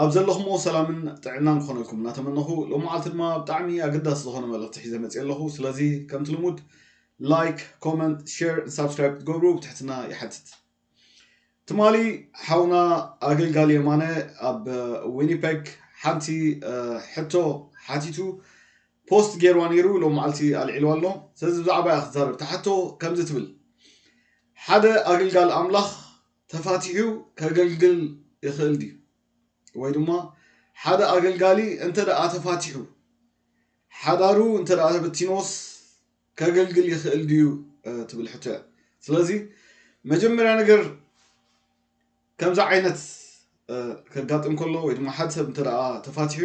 ኣብ ዘለኹሞ ሰላምን ጥዕናን ክኾነልኩም እናተመነኹ ሎምዓልቲ ድማ ብጣዕሚ ኣገዳሲ ዝኾነ መልእኽቲ ሒዘ መፅየ ኣለኹ ስለዚ ከምቲ ልሙድ ላይክ ኮመንት ሼር ን ሳብስክራይብ ክትገብሩ ብትሕትና ይሓትት ትማሊ ሓውና ኣገልጋሊ የማነ ኣብ ዊኒፐግ ሓንቲ ሕቶ ሓቲቱ ፖስት ገይርዋ ነይሩ ሎምዓልቲ ኣልዒልዋ ኣሎ ስለዚ ብዛዕባ እያ ክትዛረብ ተሓቶ ከምዚ ትብል ሓደ ኣገልጋሊ ኣምላኽ ተፋቲሑ ከገልግል ይኽእል ድዩ? ወይ ድማ ሓደ ኣገልጋሊ እንተ ደኣ ተፋቲሑ፣ ሓዳሩ እንተ ደኣ ተበቲንዎስ ከገልግል ይኽእል ድዩ ትብል ሕቶ እያ። ስለዚ መጀመርያ ነገር ከምዚ ዓይነት ከጋጥም ከሎ ወይ ድማ ሓደ ሰብ እንተ ደኣ ተፋቲሑ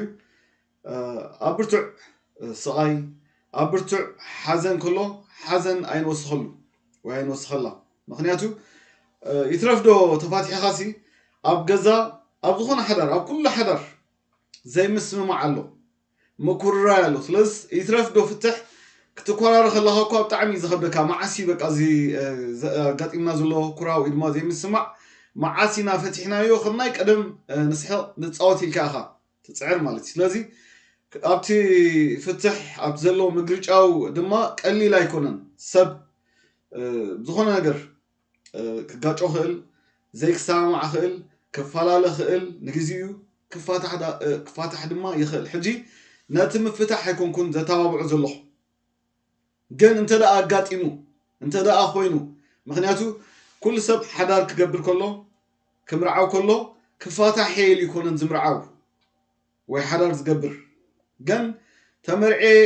ኣብ ብርቱዕ ስቓይ፣ ኣብ ብርቱዕ ሓዘን ከሎ ሓዘን ኣይንወስኸሉ ወይ ኣይንወስኸላ። ምኽንያቱ ይትረፍዶ ተፋቲሕኻሲ ኣብ ገዛ ኣብ ዝኾነ ሓዳር ኣብ ኩሉ ሓዳር ዘይምስምማዕ ኣሎ፣ ምኩርራይ ኣሎ። ስለዚ ይትረፍዶ ፍትሕ ክትኮራረ ከለኻ እኳ ብጣዕሚ እዩ ዝኸብደካ መዓስ እዩ በቃ እዚ ኣጋጢምና ዘሎ ኩራ ወይ ድማ ዘይምስማዕ መዓስ ኢና ፈቲሕናዮ ከም ናይ ቀደም ንስሕቕ ንፃወት ኢልካ ኢኻ ትጽዕር ማለት እዩ ስለዚ ኣብቲ ፍትሕ ኣብቲ ዘለዎ ምግርጫው ድማ ቀሊል ኣይኮነን ሰብ ዝኾነ ነገር ክጋጮ ክእል ዘይክሰማማዕ ክእል ክፈላለ ክእል ንግዜኡ ክፋታሕ ድማ ይኽእል ሕጂ ነቲ ምፍታሕ ኣይኮንኩን ዘተባብዖ ዘለኹ ግን እንተ ደኣ ኣጋጢሙ እንተ ደኣ ኮይኑ ምክንያቱ ኩሉ ሰብ ሓዳር ክገብር ከሎ ክምርዓው ከሎ ክፋታሕ ኢሉ ኣይኮነን ዝምርዓው ወይ ሓዳር ዝገብር ግን ተመርዕየ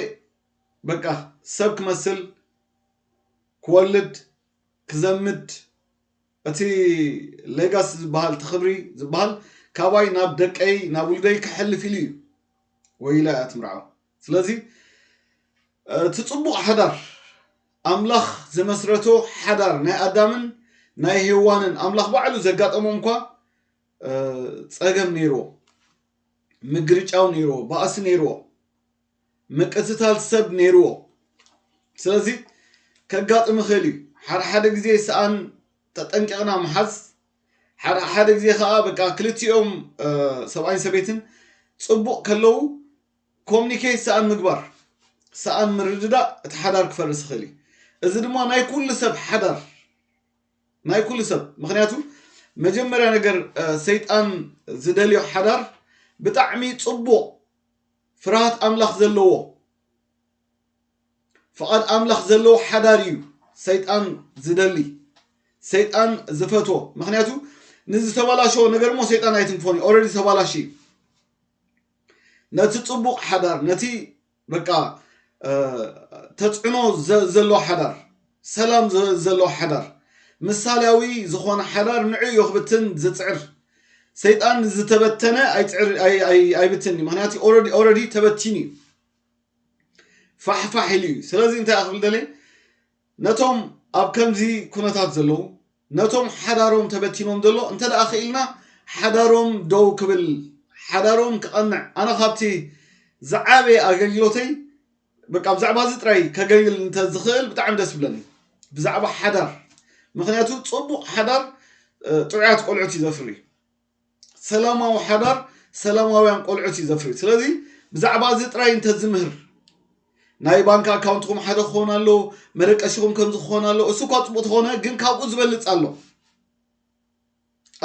በቃ ሰብ ክመስል ክወልድ ክዘምድ እቲ ሌጋሲ ዝበሃል እቲ ክብሪ ዝበሃል ካባይ ናብ ደቀይ ናብ ውልደይ ክሕልፍ ኢሉ እዩ ወይ ኢላ እያ ትምርዓው ስለዚ እቲ ጽቡቕ ሓዳር ኣምላኽ ዝመስረቶ ሓዳር ናይ ኣዳምን ናይ ሄዋንን ኣምላኽ ባዕሉ ዘጋጠሞም እኳ ጸገም ነይርዎ ምግርጫው ነይርዎ ባእሲ ነይርዎ ምቅትታል ሰብ ነይርዎ ስለዚ ከጋጥም ይኽእል እዩ ሓደ ሓደ ግዜ ሰኣን ተጠንቂቕና ምሓዝ ሓደ ሓደ ግዜ ከዓ በቃ ክልቲኦም ሰብኣይን ሰበይትን ፅቡቕ ከለዉ ኮምኒኬት ሰኣን ምግባር፣ ሰኣን ምርድዳእ እቲ ሓዳር ክፈርስ ይኽእል እዩ። እዚ ድማ ናይ ኩሉ ሰብ ሓዳር ናይ ኩሉ ሰብ ምክንያቱ መጀመርያ ነገር ሰይጣን ዝደልዮ ሓዳር ብጣዕሚ ጽቡቕ ፍርሃት ኣምላኽ ዘለዎ ፍቓድ ኣምላኽ ዘለዎ ሓዳር እዩ ሰይጣን ዝደሊ ሰይጣን ዝፈትዎ ምክንያቱ ንዝተበላሸዎ ነገር እሞ ሰይጣን ኣይትንክፎን እዩ ኦረዲ ተባላሽ እዩ ነቲ ጽቡቕ ሓዳር ነቲ በቃ ተጽዕኖ ዘሎ ሓዳር ሰላም ዘሎ ሓዳር ምሳሌያዊ ዝኾነ ሓዳር ንዕ እዮ ክብትን ዝጽዕር ሰይጣን ዝተበተነ ኣይብትን እዩ ምክንያቱ ኦረዲ ተበቲኑ እዩ ፋሕፋሕ ኢሉ እዩ ስለዚ እንታይ ክብል ደለየ ነቶም ኣብ ከምዚ ኩነታት ዘለዉ ነቶም ሓዳሮም ተበቲኖም ዘሎ እንተ ክኢልና ሓዳሮም ደው ክብል ሓዳሮም ክቐንዕ ኣነ ካብቲ ዝዓበየ ኣገልግሎተይ በቃ ብዛዕባ እዚ ጥራይ ከገልግል እንተ ዝኽእል ብጣዕሚ ደስ ብለኒ ብዛዕባ ሓዳር ምክንያቱ ጽቡቕ ሓዳር ጥዑያት ቆልዑት እዩ ዘፍሪ ሰላማዊ ሓዳር ሰላማውያን ቆልዑት እዩ ዘፍሪ ስለዚ ብዛዕባ እዚ ጥራይ እንተዝምህር ናይ ባንክ ኣካውንትኩም ሓደ ክኾን ኣሎ መደቀሽኹም ከምዚ ክኾን ኣሎ እሱ እኳ ፅቡቅ ተኾነ ግን ካብኡ ዝበልፅ ኣሎ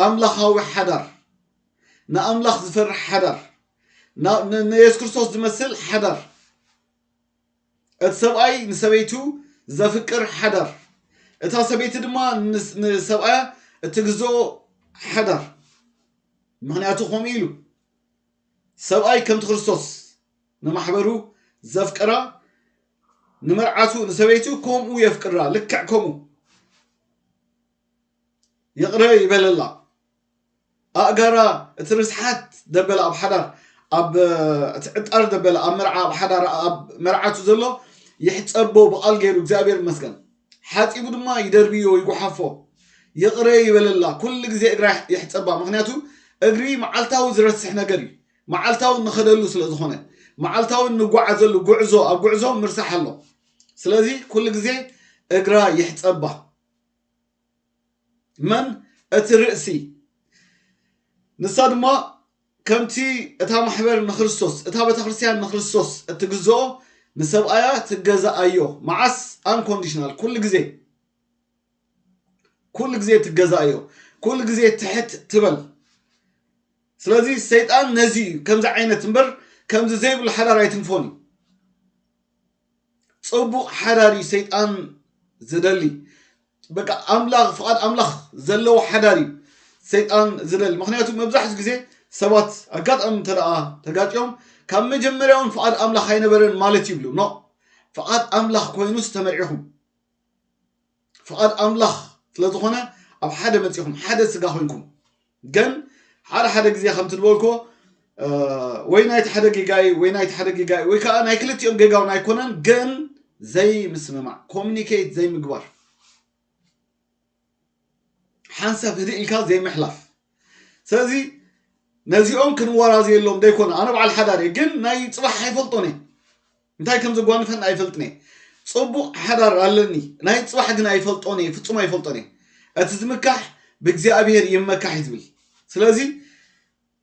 ኣምላኻዊ ሓዳር ንኣምላኽ ዝፈርሕ ሓዳር ንየሱስ ክርስቶስ ዝመስል ሓዳር እቲ ሰብኣይ ንሰበይቱ ዘፍቅር ሓዳር፣ እታ ሰበይቲ ድማ ንሰብኣያ እትግዝኦ ሓዳር፣ ምኽንያቱ ከምኡ ኢሉ፣ ሰብኣይ ከምቲ ክርስቶስ ንማሕበሩ ዘፍቅራ፣ ንመርዓቱ ንሰበይቱ ከምኡ የፍቅራ፣ ልክዕ ከምኡ። ይቕረ ይበለላ ኣእጋራ እቲ ርስሓት ደበለ ኣብ ሓዳር ኣብ እቲ ዕጣር ደበለ ኣብ መርዓ ኣብ ሓዳር ኣብ መርዓቱ ዘሎ ይሕፀቦ ብቓል ገይሩ እግዚኣብሔር ይመስገን ሓፂቡ ድማ ይደርብዮ ይጉሓፎ ይቕረ ይበለላ ኩሉ ግዜ እግራ ይሕፀባ ምክንያቱ እግሪ መዓልታዊ ዝረስሕ ነገር እዩ መዓልታዊ ንኸደሉ ስለ ዝኾነ መዓልታዊ እንጓዓዘሉ ጉዕዞ ኣብ ጉዕዞ ምርሳሕ ኣሎ ስለዚ ኩሉ ግዜ እግራ ይሕፀባ መን እቲ ርእሲ ንሳ ድማ ከምቲ እታ ማሕበር ንክርስቶስ እታ ቤተ ክርስቲያን ንክርስቶስ እትግዝኦ ንሰብኣያ ትገዛኣዮ መዓስ ኣንኮንዲሽናል ኩሉ ግዜ ኩሉ ግዜ ትገዛኣዮ ኩሉ ግዜ ትሕት ትበል ስለዚ ሰይጣን ነዚ እዩ ከምዚ ዓይነት እምበር ከምዚ ዘይብሉ ሓዳር ኣይትንፎን እዩ ጸቡቅ ሓዳር እዩ ሰይጣን ዝደሊ በቃ ኣምላኽ ፍቓድ ኣምላኽ ዘለዎ ሓዳር እዩ ሰይጣን ዝደሊ ምክንያቱ መብዛሕትኡ ግዜ ሰባት ኣጋጣሚ እንተ ተጋጭዮም ካብ መጀመርያውን ፍቓድ ኣምላኽ ኣይነበረን ማለት ይብሉ ኖ ፍቓድ ኣምላኽ ኮይኑ ዝተመርዒኹም ፍቃድ ኣምላኽ ስለ ዝኾነ ኣብ ሓደ መጺኹም ሓደ ስጋ ኮይንኩም ግን ሓደ ሓደ ግዜ ከምቲ ዝበልክዎ ወይ ናይቲ ሓደ ጌጋይ ወይ ናይቲ ሓደ ጌጋይ ወይ ከዓ ናይ ክልቲኦም ጌጋ እውን ኣይኮነን ግን ዘይምስምማዕ ኮሚኒኬት ዘይምግባር ሓንሳብ ህድእ ኢልካ ዘይምሕላፍ ስለዚ ነዚኦም ክንወራዘየሎም ዘይኮነ ኣነ በዓል ሓዳር እየ ግን ናይ ፅባሕ ኣይፈልጦን እየ እንታይ ከም ዘጓንፈኒ ኣይፈልጥን እየ ፅቡቕ ሓዳር ኣለኒ ናይ ፅባሕ ግን ኣይፈልጦን እየ ፍፁም ኣይፈልጦን እየ እቲ ዝምካሕ ብእግዚኣብሔር ይመካሕ እዩ ዝብል ስለዚ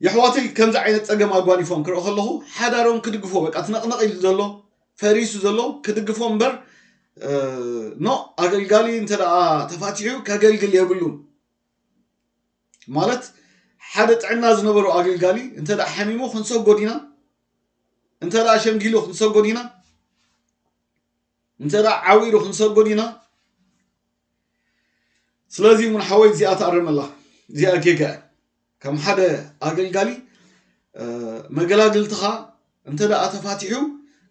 የሕዋተይ ከምዚ ዓይነት ፀገም ኣጓኒፎም ክርኢ ከለኹ ሓዳሮም ክድግፎ በቃ ትነቕነቕ ኢሉ ዘሎ ፈሪሱ ዘሎ ክድግፎ እምበር ኖ ኣገልጋሊ እንተ ተፋቲሑ ከገልግል የብሉን ማለት ሓደ ጥዕና ዝነበሮ ኣገልጋሊ እንተ ሓሚሙ ክንሰጎድ ኢና እንተ ሸምጊሉ ክንሰጎድ ኢና እንተ ዓዊሩ ክንሰጎድ ኢና ስለዚ እውን ሓወይ እዚኣ ተኣረመላ እዚኣ ጌጋ ከም ሓደ ኣገልጋሊ መገላግልትኻ እንተ ተፋቲሑ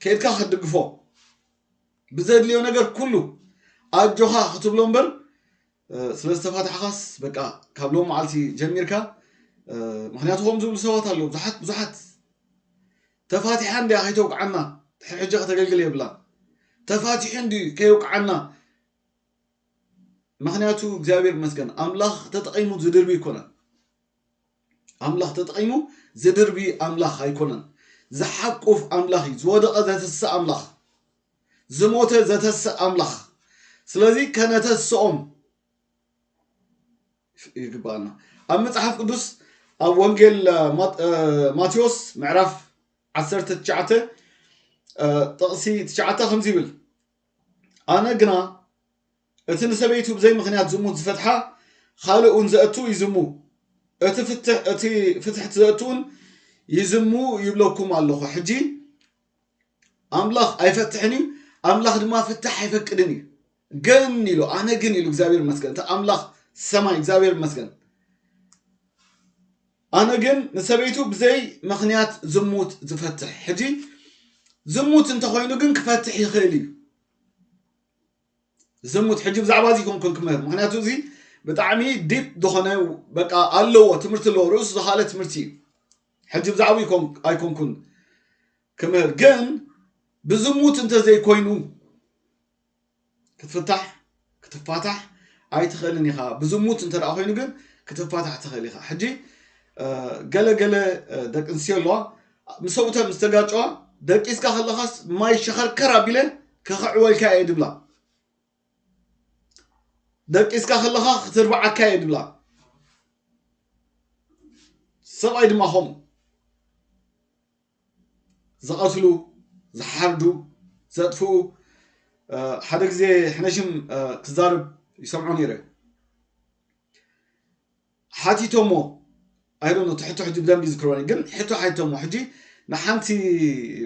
ከድካ ክትድግፎ ብዘድልዮ ነገር ኩሉ ኣጆኻ ክትብሎ እምበር ስለ ዝተፋታሕኻስ በቃ ካብ ሎም መዓልቲ ጀሚርካ ምክንያቱ ከም ዝብሉ ሰባት ኣለዉ ብዙሓት ብዙሓት ተፋቲሓ እንድያ ከይተውቅዓና ድሕሪ ሕጂ ከተገልግል የብላን ተፋቲሑ እንዲ ከየውቅዓና ምክንያቱ እግዚኣብሔር መስገን ኣምላኽ ተጠቂሙ ዝድርቢ ይኮነን ኣምላኽ ተጠቒሙ ዝድርቢ ኣምላኽ ኣይኮነን። ዝሓቁፍ ኣምላኽ እዩ። ዝወደቐ ዘትስእ ኣምላኽ፣ ዝሞተ ዘተስእ ኣምላኽ። ስለዚ ከነተስኦም ይግባኣና። ኣብ መጽሓፍ ቅዱስ ኣብ ወንጌል ማቴዎስ ምዕራፍ 19 ጥቕሲ ትሽዓተ ከምዚ ይብል ኣነ ግና እቲ ንሰበይቱ ብዘይ ምኽንያት ዝሙት ዝፈትሓ ኻልእ እውን ዘእቱ ይዝሙ እቲ ፍትሕ እቲ ፍትሕት ዘእቱ እውን ይዝሙ ይብለኩም ኣለኹ ሕጂ ኣምላኽ ኣይፈትሕን እዩ ኣምላኽ ድማ ፍታሕ ኣይፈቅድን እዩ ግን ኢሉ ኣነ ግን ኢሉ እግዚኣብሔር ይመስገን እቲ ኣምላኽ ሰማይ እግዚኣብሔር ይመስገን ኣነ ግን ንሰበይቱ ብዘይ ምክንያት ዝሙት ዝፈትሕ ሕጂ ዝሙት እንተኮይኑ ግን ክፈትሕ ይኽእል እዩ ዝሙት ሕጂ ብዛዕባ እዚ ኮንኩን ክምህር ምክንያቱ እዚ ብጣዕሚ ዲፕ ዝኾነ በቃ ኣለዎ ትምህርቲ ኣለዎ ርእሱ ዝኻለ ትምህርቲ እዩ ሕጂ ብዛዕባ ኣይኮንኩን ክምህር ግን ብዝሙት እንተዘይኮይኑ ክትፍታሕ ክትፋታሕ ኣይትኽእልን ኢኻ ብዝሙት እንተ ኮይኑ ግን ክትፋታሕ ትኽእል ኢኻ ሕጂ ገለገለ ደቂ ኣንስትዮ ኣለዋ ምስ ሰብኡተን ምስ ተጋጨዋ ደቂስካ ከለኻስ ማይ ሸኸርከር ኣቢለ ከኽዕወልካ እየ ድብላ ደቂስካ ከለኻ ክትርብዓካ እየ ድብላ ሰብኣይ ድማ ከምኡ ዝቐትሉ ዝሓርዱ ዘጥፍኡ ሓደ ግዜ ሕነሽም ክዛርብ ይሰምዖ ነይረ ሓቲቶሞ ኣይ ዶንት ኖ እቲ ሕቶ ሕጂ ብደንቢ ይዝክሮ እየ ግን ሕቶ ሓቲቶሞ ሕጂ ንሓንቲ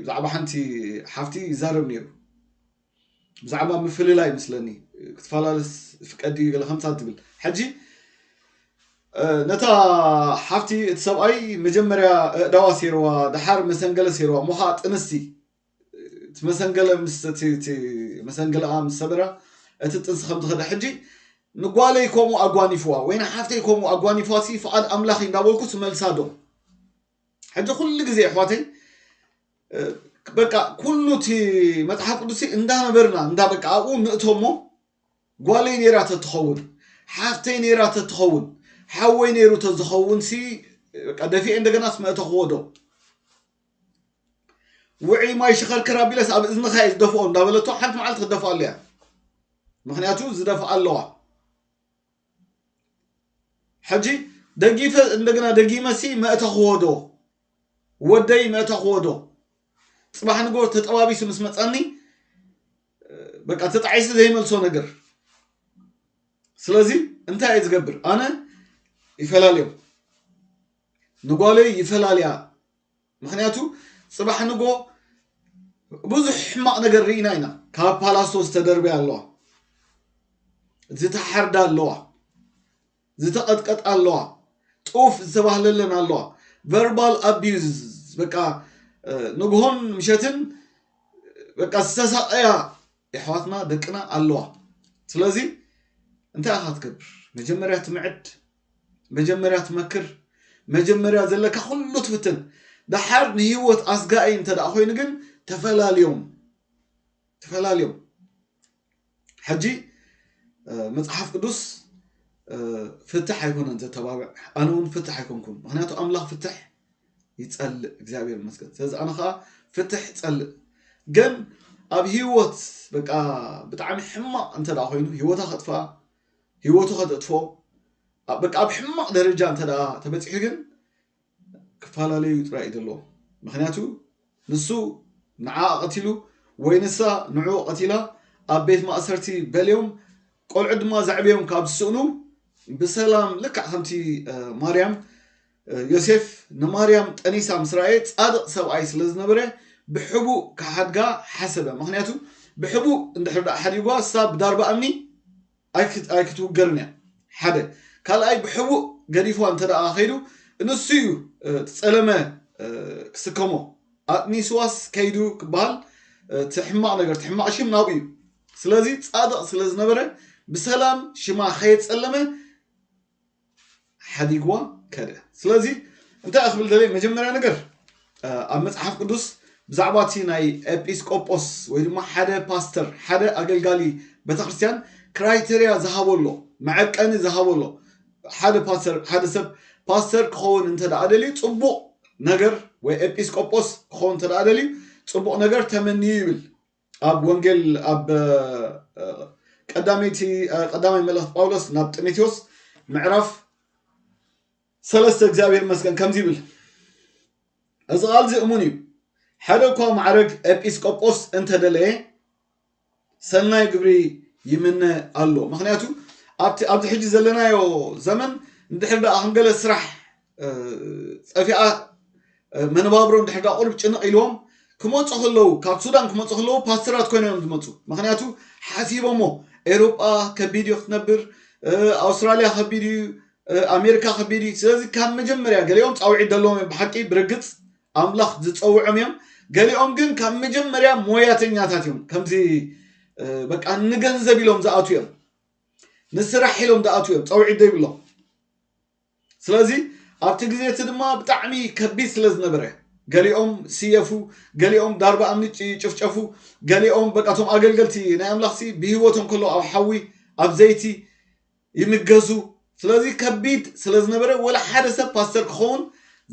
ብዛዕባ ሓንቲ ሓፍቲ ይዛረብ ነይሩ ብዛዕባ ምፍልላይ ምስለኒ ክትፈላለስ ፍቀድ እዩ ገለ ከምታ ትብል ሕጂ ነታ ሓፍቲ እቲ ሰብኣይ መጀመርያ እእዳዋ ሴርዋ ድሓር መሰንገለ ሴርዋ እሞ ከዓ ጥንስቲ እቲ መሰንገለ ምስ እቲ እቲ መሰንገለኣ ምስ ሰበራ እቲ ጥንሲ ከም ዝኸደ ሕጂ ንጓለይ ከምኡ ኣጓኒፍዋ ወይ ንሓፍተይ ከምኡ ኣጓኒፍዋ ሲ ፍቓድ ኣምላኽ እንዳበልኩ ስመልሳ ዶ ሕጂ ኩሉ ግዜ ኣሕዋተይ በቃ ኩሉ እቲ መጽሓፍ ቅዱስ እንዳነበርና እንዳ በቃ ኣብኡ ንእቶ እሞ ጓለይ ነይራ ተትኸውን ሓፍተይ ነይራ ተትኸውን ሓወይ ነይሩ ተዝኸውን ሲ በቃ ደፊኤ እንደገናስ መእተኽዎ ዶ ውዕይ ማይ ሽኸርከር ኣቢለስ ኣብ እዝንኻ እየ ዝደፍኦ እንዳበለቶ ሓንቲ መዓልቲ ክደፍኣሉ እያ ምክንያቱ ዝደፍኣ ኣለዋ ሕጂ ደጊፈ እንደገና ደጊመሲ መእተኽዎ ዶ ወደይ መእተኽዎ ዶ ፅባሕ ንጎ ተጠባቢሱ ምስ መፀኒ በቃ ተጣዒሱ ዘይመልሶ ነገር ስለዚ እንታይ እየ ዝገብር ኣነ ይፈላልዮም ንጓለይ ይፈላልያ ምክንያቱ ጽባሕ ንግሆ ብዙሕ ሕማቅ ነገር ሪኢና ኢና ካብ ፓላስቶ ዝተደርበያ ኣለዋ ዝተሓርዳ ኣለዋ ዝተቀጥቀጣ ኣለዋ ጡፍ ዝተባህለለን ኣለዋ ቨርባል ኣቢዩዝ በቃ ንግሆን ምሸትን በቃ ዝተሳቀያ የሕዋትና ደቅና ኣለዋ ስለዚ እንታይ ኢካ ትገብር መጀመርያ ትምዕድ መጀመርያ ትመክር መጀመርያ ዘለካ ኩሉ ትፍትን ደሓር ንሂወት ኣስጋኢ እንተ ኮይኑ ግን ተፈላልዮም ተፈላልዮም ሕጂ መጽሓፍ ቅዱስ ፍትሕ ኣይኮነን ዘተባብዕ ኣነ እውን ፍትሕ ኣይኮንኩን ምክንያቱ ኣምላኽ ፍትሕ ይጸልእ እግዚኣብሔር ይመስገን ስለዚ ኣነ ከዓ ፍትሕ ጸልእ ግን ኣብ ህይወት በቃ ብጣዕሚ ሕማቅ እንተ ኮይኑ ህይወታ ከጥፍኣ ሂወቱ ከተጥፎ ኣብ በቃ ኣብ ሕማቅ ደረጃ እንተ ተበጺሑ ግን ክፋላለዩ ጥራይ እዩ ዘለዎም ምክንያቱ ንሱ ንዓኣ ቀቲሉ ወይ ንሳ ንዑኡ ቀቲላ ኣብ ቤት ማእሰርቲ በልዮም ቆልዑት ድማ ዘዕብዮም ካብ ዝስእኑ ብሰላም ልክዕ ከምቲ ማርያም ዮሴፍ ንማርያም ጠኒሳ ምስ ረኣየ ጻድቕ ሰብኣይ ስለ ዝነበረ ብሕቡእ ክሓድጋ ሓሰበ፣ ምኽንያቱ ብሕቡእ እንድሕር ደኣ ሓዲጉዋ ንሳ ብዳርባ እምኒ ኣይክትውገርን እያ፣ ሓደ። ካልኣይ ብሕቡእ ገዲፉዋ እንተ ደኣ ከይዱ ንሱ እዩ እቲ ጸለመ ክስከሞ፣ ኣጥኒሱዋስ ከይዱ ክበሃል እቲ ሕማቕ ነገር እቲ ሕማቕ ሽም ናብኡ እዩ። ስለዚ ጻድቕ ስለ ዝነበረ ብሰላም ሽማ ከየጸለመ ሓዲግዋ ከደ ስለዚ እንታይ ክብል ደለየ መጀመርያ ነገር ኣብ መፅሓፍ ቅዱስ ብዛዕባ እቲ ናይ ኤጲስቆጶስ ወይ ድማ ሓደ ፓስተር ሓደ ኣገልጋሊ ቤተክርስትያን ክራይተርያ ዝሃበሎ መዐቀኒ ዝሃበሎ ሓደ ፓስተር ሓደ ሰብ ፓስተር ክኸውን እንተ ደልዩ ፅቡቕ ነገር ወይ ኤጲስቆጶስ ክኸውን እንተ ደልዩ ፅቡቕ ነገር ተመንዩ ይብል ኣብ ወንጌል ኣብ ቀዳመይቲ ቀዳማይ መልእኽቲ ጳውሎስ ናብ ጢሞቴዎስ ምዕራፍ ሰለስተ እግዚኣብሔር ይመስገን ከምዚ ይብል እዚ ቃል እዚ እሙን እዩ ሓደ እኳ ማዕረግ ኤጲስቆጶስ እንተደለየ ሰናይ ግብሪ ይምነ ኣሎ ምክንያቱ ኣብቲ ኣብዚ ሕጂ ዘለናዮ ዘመን እንድሕር ደኣ ከም ገለ ስራሕ ፀፊኣ መነባብሮ ድሕሪ ዳ ቁሩብ ጭንቕ ኢልዎም ክመፁ ከለዉ ካብ ሱዳን ክመፁ ከለዉ ፓስተራት ኮይኖም እዮም ዝመፁ ምክንያቱ ሓሲቦሞ ኤሮጳ ከቢድ እዩ ክትነብር ኣውስትራልያ ከቢድ እዩ ኣሜሪካ ከቢድ እዩ ስለዚ ካብ መጀመርያ ገሊኦም ፃውዒት ዘለዎም እዮም ብሓቂ ብርግፅ ኣምላኽ ዝፀውዖም እዮም ገሊኦም ግን ካብ መጀመርያ ሞያተኛታት እዮም ከምዚ በቃ ንገንዘብ ኢሎም ዝኣትዉ እዮም ንስራሕ ኢሎም ዝኣትዉ እዮም ፀውዒት ዘይብሎም ስለዚ ኣብቲ ግዜ እቲ ድማ ብጣዕሚ ከቢድ ስለ ዝነበረ ገሊኦም ስየፉ፣ ገሊኦም ዳርባ እምኒ ይጭፍጨፉ፣ ገሊኦም በቃ እቶም ኣገልገልቲ ናይ ኣምላኽሲ ብህይወቶም ከሎ ኣብ ሓዊ ኣብ ዘይቲ ይምገዙ። ስለዚ ከቢድ ስለ ዝነበረ ወላ ሓደ ሰብ ፓስተር ክኸውን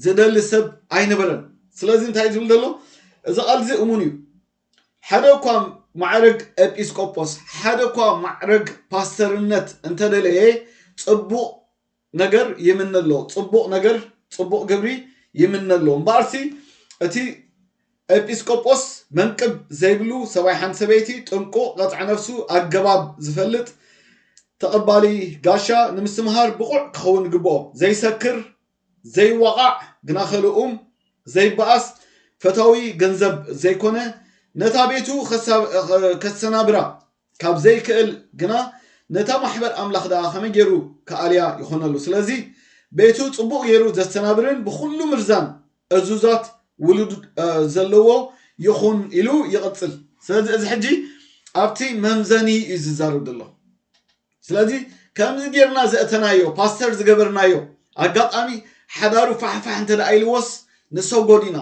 ዝደሊ ሰብ ኣይነበረን። ስለዚ እንታይ ዝብል ዘሎ እዚ ቃል እዚ እሙን እዩ። ሓደ እኳ ማዕረግ ኤጲስቆጶስ፣ ሓደ እኳ ማዕረግ ፓስተርነት እንተደለየ ጽቡቕ ነገር ይምነ ኣሎ፣ ጽቡቕ ነገር፣ ጽቡቕ ግብሪ ይምነ ኣሎ፣ እምበኣርሲ እቲ ኤጲስቆጶስ መንቅብ ዘይብሉ ሰብኣይ ሓንቲ ሰበይቲ ጥንቁቕ ቐጥዒ ነፍሱ ኣገባብ ዝፈልጥ ተቐባሊ ጋሻ ንምስትምሃር ብቑዕ ክኸውን ይግብኦ፣ ዘይሰክር፣ ዘይዋቓዕ፣ ግናኸ ልኡም፣ ዘይበኣስ፣ ፈታዊ ገንዘብ ዘይኮነ፣ ነታ ቤቱ ከሰናብራ ካብ ዘይክእል ግና ነታ ማሕበር ኣምላኽ ደኣ ከመይ ገይሩ ክኣልያ ይኾነሉ። ስለዚ ቤቱ ጽቡቕ ገይሩ ዘስተናብርን ብኹሉ ምርዛን እዙዛት ውሉድ ዘለዎ ይኹን ኢሉ ይቕጽል። ስለዚ እዚ ሕጂ ኣብቲ መምዘኒ እዩ ዝዛረብ ዘሎ። ስለዚ ከምዚ ጌርና ዘእተናዮ ፓስተር ዝገበርናዮ ኣጋጣሚ ሓዳሩ ፋሕፋሕ እንተ ኢልዎስ ንሰጎድ ኢና።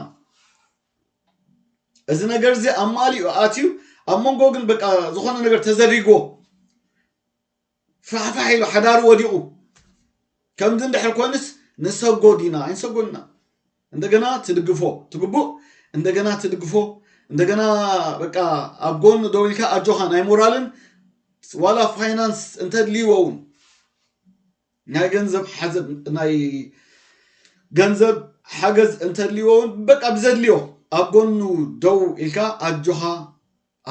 እዚ ነገር እዚ ኣማሊኡ ኣትዩ ኣብ መንጎ ግን በቃ ዝኾነ ነገር ተዘሪጎ ፋሕፋሕ ኢሉ ሓዳሩ ወዲቑ ከምዚ እንድሕር ኮይኑስ ንሰጎ ዲና ኣይንሰጎን ኢና እንደገና ትድግፎ ትግቡእ እንደገና ትድግፎ እንደገና በቃ ኣብ ጎኑ ደው ኢልካ ኣጆኻ ናይ ሞራልን ዋላ ፋይናንስ እንተድልይዎ እውን ናይ ገንዘብ ሓዘብ ናይ ገንዘብ ሓገዝ እንተድልዎ እውን በቃ ብዘድልዮ ኣብ ጎኑ ደው ኢልካ ኣጆኻ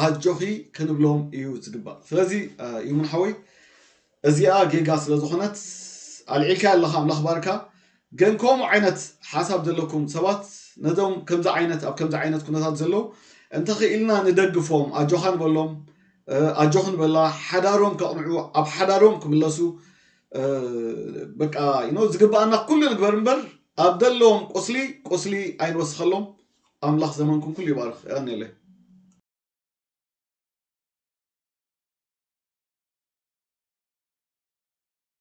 ኣጆኺ ክንብሎም እዩ ዝግባእ ስለዚ ይሙን ሓወይ እዚኣ ጌጋ ስለ ዝኾነት ኣልዒልካ ኣለኻ ኣምላኽ ባርካ ግን ከምኡ ዓይነት ሓሳብ ዘለኩም ሰባት ነዞም ከምዚ ዓይነት ኣብ ከምዚ ዓይነት ኩነታት ዘለዉ እንተኽኢልና ንደግፎም ኣጆኻ ንበሎም ኣጆኽ ንበላ ሓዳሮም ከቕንዑ ኣብ ሓዳሮም ክምለሱ በቃ ይኖ ዝግብኣና ኩሉ ንግበር እምበር ኣብ ዘለዎም ቁስሊ ቁስሊ ኣይንወስኸሎም ኣምላኽ ዘመንኩም ኩሉ ይባርኽ ያኔለይ